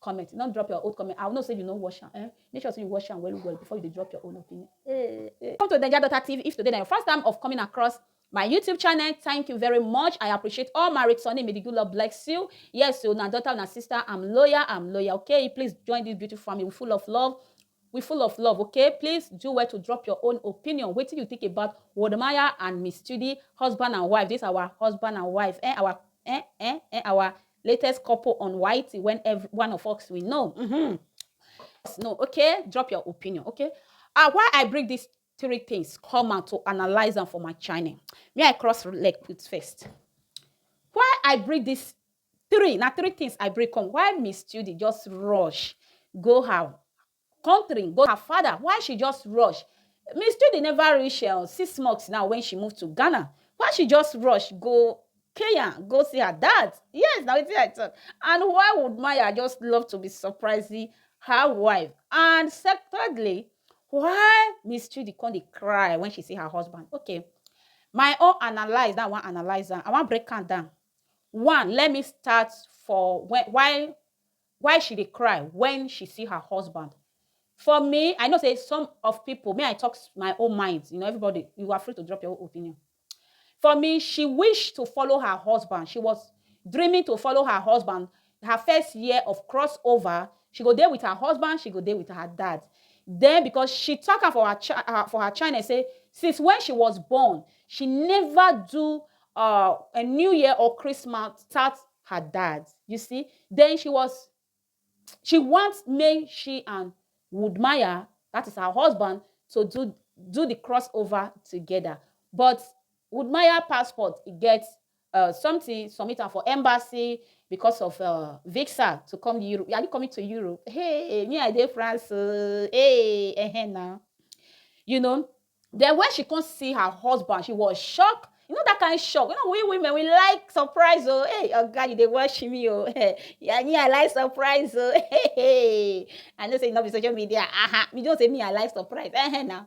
comment no drop your old comment i know say you no wash am eh make sure say you wash am well well before you dey drop your own opinion eh eh come to naija daughter tv if today na your first time of coming across my youtube channel thank you very much i appreciate all my returning may the good lord bless you yes o na daughter na sister i'm loyal i'm loyal okay please join this beautiful family we full of love We full of love ok please do well to drop your own opinion wetin you think about Wodemaya and Miss Chidi husband and wife this our husband and wife eh our eh eh eh our latest couple on YT when every one of us we know mm -hmm. no okay drop your opinion okay ah why I bring this three things come out to analyze them for my channel. May I cross leg put first. Why I bring this Three, na three things I bring come why Miss Judy just rush go her country go her father why she just rush Miss Judy never reach um, six months now when she move to Ghana why she just rush go Kenya go see her dad yes na wetin I talk and why would Maya just love to be surprising her wife and secondly why Miss Judy come dey cry when she see her husband okay my own analyse that I wan analyse am I wan break am down One, let me start for when, why why she dey cry when she see her husband. For me, I know say some of people, may I talk my own mind, you know, everybody, you are free to drop your own opinion. For me, she wished to follow her husband. She was dreaming to follow her husband her first year of cross over she go dey with her husband she go dey with her dad then because she talk am for her, cha- her for her channel say since when she was born she never do uh, a new year or christmas without her dad you see then she was she want make she and woodmaya that is her husband to do do the crossover together but woodmaya passport e get uh, something, submit am for embassy because of uh, visa to come to Europe. Are you coming to Europe? Hey, me I dey France. Uh, hey, eh, eh, now. You know, then when she come see her husband, she was shocked. You know that kind of shock. You know, we women, we like surprise. Oh, hey, oh God, you they watch me. Oh, yeah, me, I like surprise. Oh, hey, hey. I know say not be social media. Aha, uh-huh. me don't say me, I like surprise. Eh, eh, now.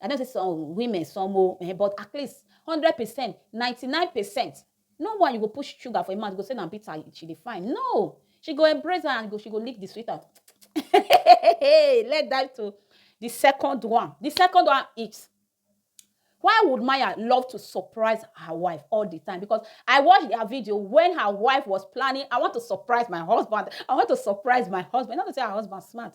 I know say some women, some o, eh, but at least hundred percent, ninety nine percent, no one you go push sugar for im mouth go say na bitter she dey find. No! She go embrace her and go she go lick the sweet out. Let's dive to the second one. The second one is why would Maya love to surprise her wife all the time? Because I watched their video when her wife was planning, I want to surprise my husband. I want to surprise my husband. Not to say her husband smart.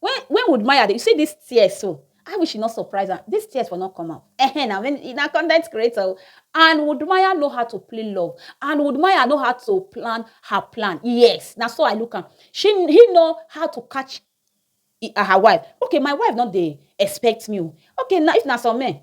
When when would Maya dey you see this tears so I wish e no surprise am this tears for no come out eh na when e na content creator o and would Maya know how to play love and would Maya know how to plan her plan yes na so I look am she he know how to catch her wife okay my wife no dey expect me o okay na if na some men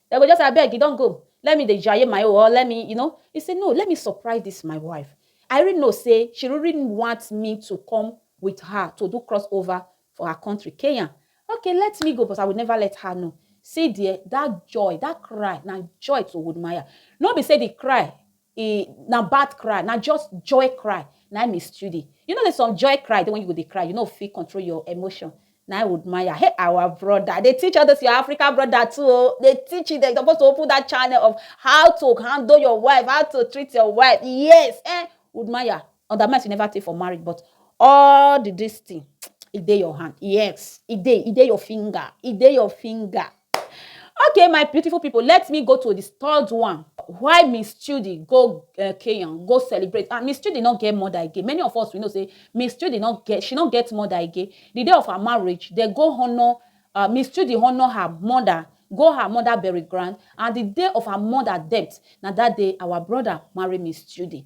Dem go just say, Abeg, you don go? Let me dey jaye my own or let me, you know. He say, No, let me surprise this my wife. I really know say she really want me to come with her to do cross over for her country, Kenya. Okay, let me go, but I will never let her know. See there, that joy, that cry, na joy to Woodmaya. No be say the cry e na bad cry na just joy cry na im e study you know say some joy cry dey when you go dey cry you no fit control your emotion na I would maya hey our brother dey teach all those your African brother too o dey teach them you suppose to open that channel of how to handle your wife how to treat your wife yes eh would maya Oga Mess you never tey for marriage but all the this thing e dey your hand yes e dey e dey your finger e dey your finger okay my beautiful people let me go to the third one why Miss Chudi go uh, Kenyan go celebrate and Miss Chudi no get mother again many of us we know say Miss Chudi no get she no get mother again the day of her marriage they go honour uh, Miss Chudi honour her mother go her mother burial ground and the day of her mother death na that day our brother marry Miss Chudi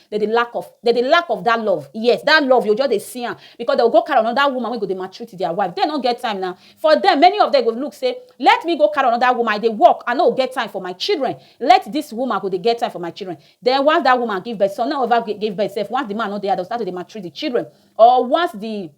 dem dey lack of dem dey lack of that love yes that love you just dey see am because dem go go carry another woman wey go dey maltreat their wife dem no get time na for them many of them go look say let me go carry another woman I dey work I no get time for my children let this woman go dey get time for my children then once that woman give birth some no ever give birth sef once the man no dey house dem start to dey maltreat the children or once the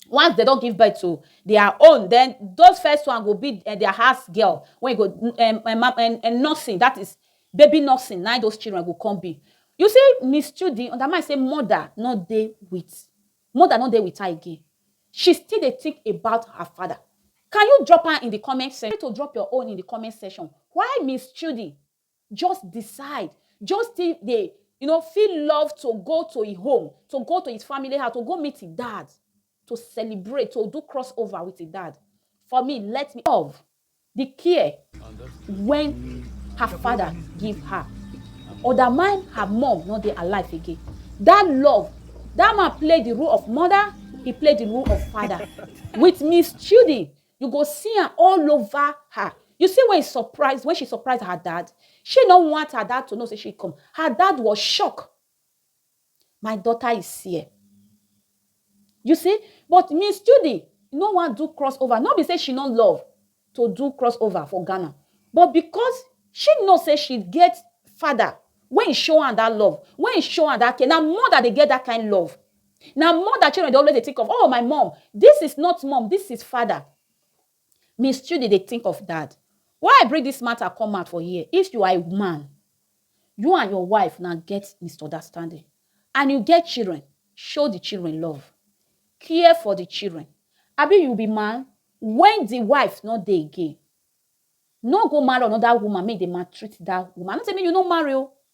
once dem don give birth to their own then those first one go be eh, their house girl when go um, um, um, nursing that is baby nursing na those children go come be you see miss judy undermine say mother no dey with mother no dey with her again she still dey think about her father can you drop her in the comment section to drop your own in the comment section why miss judy Just decide, just still dey you know feel love to go to e home, to go to his family house, to go meet e dad, to celebrate, to do cross over with e dad. For me, let me love the care when her father give her. Or that mine, her mom no dey alive again. That love, that man play the role of mother, he play the role of father with Miss Chudi. You go see am all over her. You see when he surprise, when she surprise her dad, she no want her dad to know say she come. Her dad was shocked. My daughter is here. You see? But Miss Judy no wan do crossover. No be say she no love to do crossover for Ghana. But because she know say she get father when he show am that love, when he show am that care, na mother dey get that kind love. Na mother children dey always dey think of, oh my mom, this is not mom, this is father. Miss Chudi dey think of dad. Why I bring this matter come out for here, if you are a man, you and your wife una get misunderstanding and you get children, show the children love, care for the children. Abi you be man, when the wife no dey again, no go marry another woman make e dey maltreat that woman. I no say make you no marry o,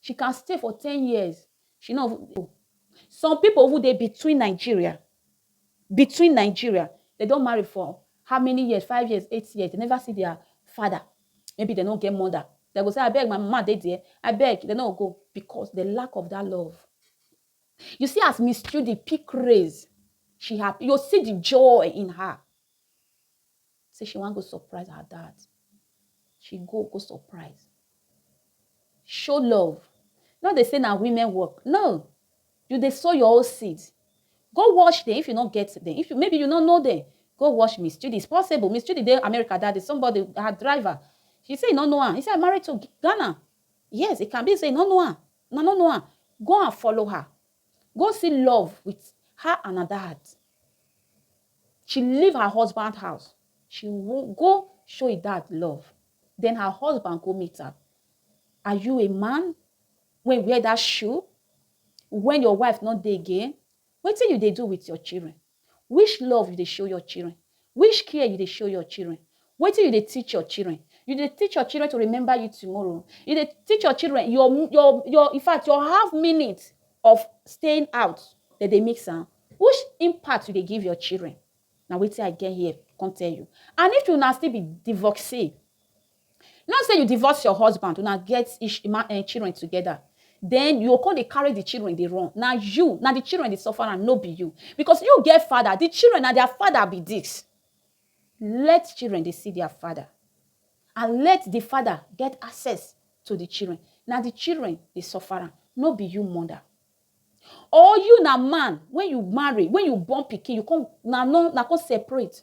She can stay for ten years, she no even go. Some pipu even dey between Nigeria, between Nigeria, dem don marry for how many years, five years, eight years, dem never see dia father, maybe dem no get mother, dem go say abeg my mama dey der, abeg, dem no go go because de lack of dat love. You see as Miss Chudi pick race, she happy, you go see di joy in her. Say she wan go surprise her dad. She go go surprise. Show love. No dey say na women work. No! You dey sow your own seed. Go watch dem if you no get dem. If you maybe you no know dem. Go watch Miss Chidi. It's possible. Miss Chidi dey America that day. Somebody, her driver. She say e no know am. He say I married to Ghana. Yes, it can be say e no know am. Una no know am. Go and follow her. go see love with her another heart. She leave her husband house. She go show her dad love. Then her husband go meet her. Are you a man when wear that shoe? When your wife not dey again? Wetin you dey do with your children? Which love you dey show your children? Which care you dey show your children? Wetin you dey teach your children? You dey teach your children to remember you tomorrow? You dey teach your children your your your in fact your half minute of staying out dem dey mix am? Which impact you dey give your children? Na wetin I get here come tell you. And if una still be divorcee, Not say you divorce your husband, una get ish ma eh, children together, then you go come dey carry the children dey run. Na you, na the children dey suffer am, no be you. Because you get father, the children na their father be this. Let children dey see their father and let the father get access to the children. Na the children dey suffer am, no be you mother. Or you na man, when you marry, when you born pikin, you come na no na come separate.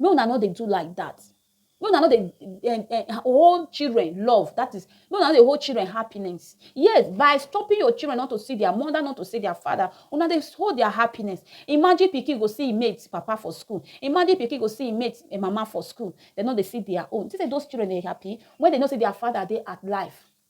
Make una no dey do like that. Make una no dey um, um, hold children love. That is, make una no dey hold children happiness. Yes, by stopping your children not to see their mother, not to see their father, una dey hold their happiness. Imagine pikin go see im mate papa for school. Imagine pikin go see im mate eh, mama for school. They no dey see their own. Think say those children dey happy when they know say their father dey at life.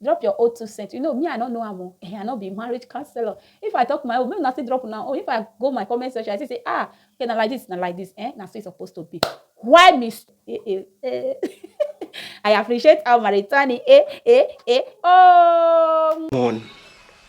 Drop your own two cents. You know, me, I don't know am o. Eh, I no be marriage counselor. If I talk my own, make una still drop una own. If I go my comment section, I still say, ah, okay, na like this, na like this. Eh, na so e suppose to be. Why me? s- Eh, eh, eh. I appreciate our Maritani. Eh, eh, eh. Oh. one